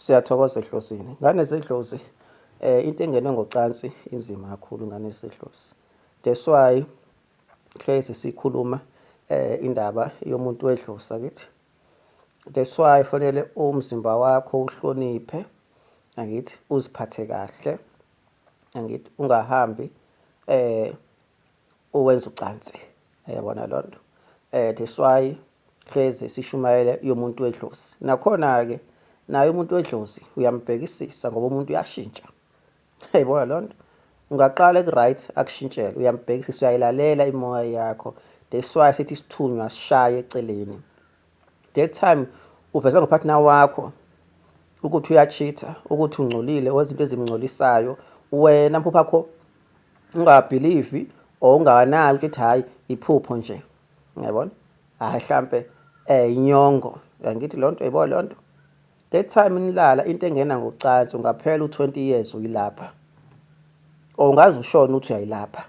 Siyathokoza ehlosini. Ngane zedlozi eh into engene ngocansi inzima kakhulu ngane zedlozi. That's why hlezi sikhuluma eh indaba yomuntu wedlozi akithi. That's why fanele umzimba wakho uhloniphe angithi uziphathe kahle angithi ungahambi eh owenza ucansi yabona loo nto um that's why hleze sishumayele yomuntu wedlozi nakhona-ke naye umuntu wedlozi uyambhekisisa ngoba umuntu uyashintsha yayibona loo nto ungaqala eku-right akushintshele uyambhekisisa uyayilalela imoya yakho that's why sithi isithunywa sishaye eceleni that time uveza ngopartner wakho ukuthi uyacheater ukuthi ungcolile wezinto ezimngcolisayo wena mphupha yakho ungabhilivi or ungawanaki ukuthi hhayi iphupho nje ngiyabona hhayi hlampe um inyongo yangithi loo nto yibo loo nto that time nilala into engena ngocansi ungaphela u-twenty years uyilapha or ungaze ushone ukuthi uyayilapha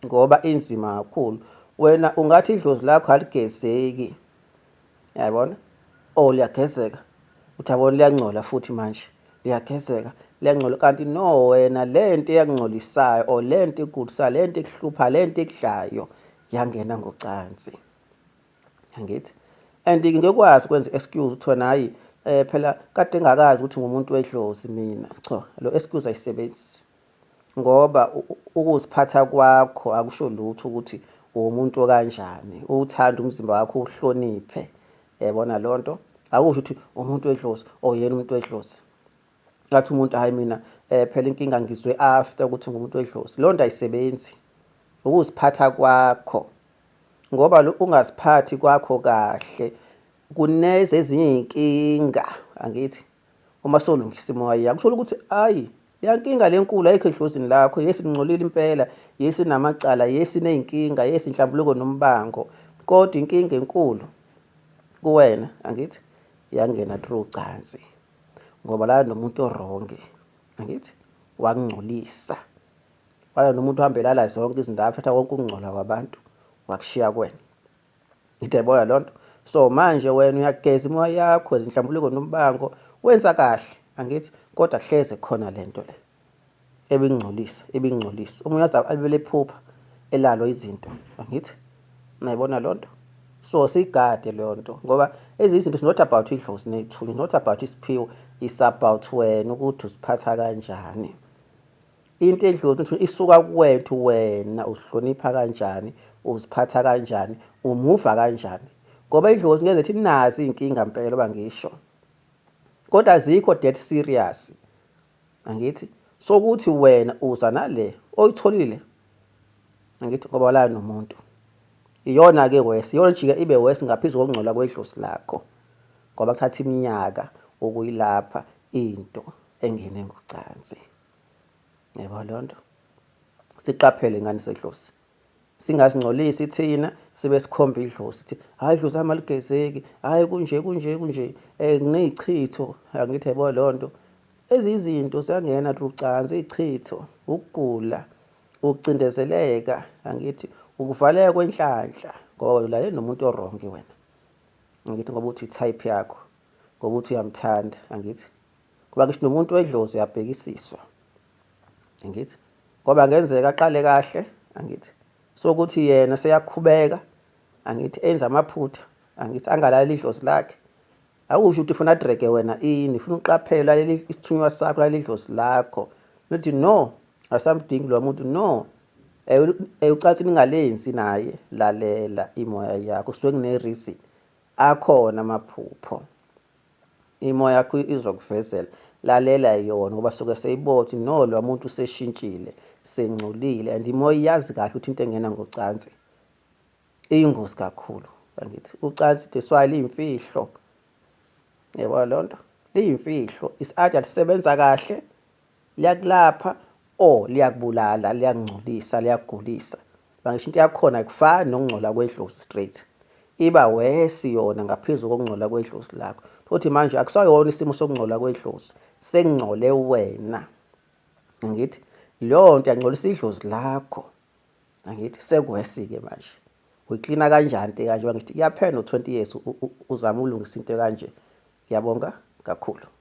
ngoba inzima kakhulu wena ungathi idlozi lakho aligezeki yayibona o oh, liyagezeka uthi yabona liyangcola futhi manje liyagezeka liyangcola kanti no wena le nto eyakungcolisayo or le nto ikugulisayo le nto ikuhlupha le nto ekudlayo yangena ngocansi angithi and ngeke kwazi ukwenza excuse uthi wena hayi eh phela kade ngakazi ukuthi ngumuntu wedlozi mina cha lo excuse ayisebenzi ngoba ukuziphatha kwakho akusho lutho ukuthi uwumuntu okanjani uwuthanda umzimba wakho uhloniphe yabona leyo nto akusho ukuthi umuntu wedlozi oyena oh, umuntu wedlozi ngathi umuntu hayi mina eh phela inkinga ngizwe after ukuthi ngumuntu wedlozi leyo nto ayisebenzi ukuziphatha kwakho ngoba ungaziphathi kwakho kahle kuneze ezinye izinkinga angithi Uma solungisa imoya yakho uthola ukuthi ayi leya nkinga lenkulu ayikho edlozini lakho yesi ningcolile impela yesi namacala yesi nezinkinga yesi inhlambuluko nombango kodwa inkinga enkulu kuwena angithi yangena through ucansi ngoba la nomuntu orongi angithi wakungcolisa wala nomuntu uhambelala zonke izindawo thatha konke ukungcola kwabantu wakushiya kwena Ngideboya lonto. So manje wena uyageza imoya yakho ezinhlambuluko nombango wenza kahle angithi kodwa hleze khona lento le ebingcolisa ebingcolisa umuntu azabe alibele phupha elalo izinto angithi nayibona lonto so sigade lonto ngoba ezinye izinto not about idlozi nethunya not about isiphiwo is about wena ukuthi usiphatha kanjani into edlozi ukuthi isuka kuwethu wena uzihlonipha kanjani uziphatha kanjani umuva kanjani ngoba idlozi ngeke lethi nazi inkinga impela bangisho kodwa azikho dead serious angithi sokuthi wena uza nale oyitholile angithi ngoba la nomuntu iyona ke wesi iyona jika ibe wesi ngaphezulu kokungcola kwedlozi lakho ngoba kuthatha iminyaka ukuyilapha into engene ngocansi yebo loo nto siqaphele ingane sedlozi singazingcolisi thina sibe sikhomba idlozi ukuthi hhayi idlozi lami aligezeki hhayi kunje kunje kunje um eh, nginey'chitho angithi yebo loo nto eziyizinto ziyangena lucansi iy'chitho ukugula ukucindezeleka angithi ukuvaleka kwenhlanhla ngoba wena ulalele nomuntu orongi wena angithi ngoba uthi i-type yakho ngoba uthi uyamthanda angithi Ngoba ngisho nomuntu wedlozi uyabhekisiswa. Angithi? Ngoba ngenzeka aqale kahle, angithi? Sokuthi yena seyakhubeka, angithi enza amaphutha, angithi angalali idlozi lakhe. Awusho ukuthi ufuna dreke wena ini, ufuna uqaphela leli isithunywa sakho lali idlozi lakho. Nothi no, asamdingi lo muntu no. Ewucathi ningalenzi naye lalela imoya yakho, suke kune reason. Akhona amaphupho. Imo yakho izokuvezela. Lalela yona ngoba suke seyibothi no lo muntu useshintshile, sengcolile and imoya iyazi kahle ukuthi into engena ngocansi iyingozi kakhulu. Angithi ucansi that's why liyimfihlo. Yebo loo nto liyimfihlo. Is-ade alisebenza kahle. liyakulapha or liyakubulala liyakungcolisa liyakugulisa bangisho into yakhona kufani nokungcola kwedlozi straight iba wesi yona ngaphezulu kokungcola kwedlozi lakho futhi manje akusayona isimo sokungcola kwedlozi sengingcole wena ngithi leyo nto yangcolisa idlozi lakho angithi sekuwesike manje uyiklina kanjani into kanje ngithi kuyaphela no-20 years uzama ulungisa into kanje ngiyabonga kakhulu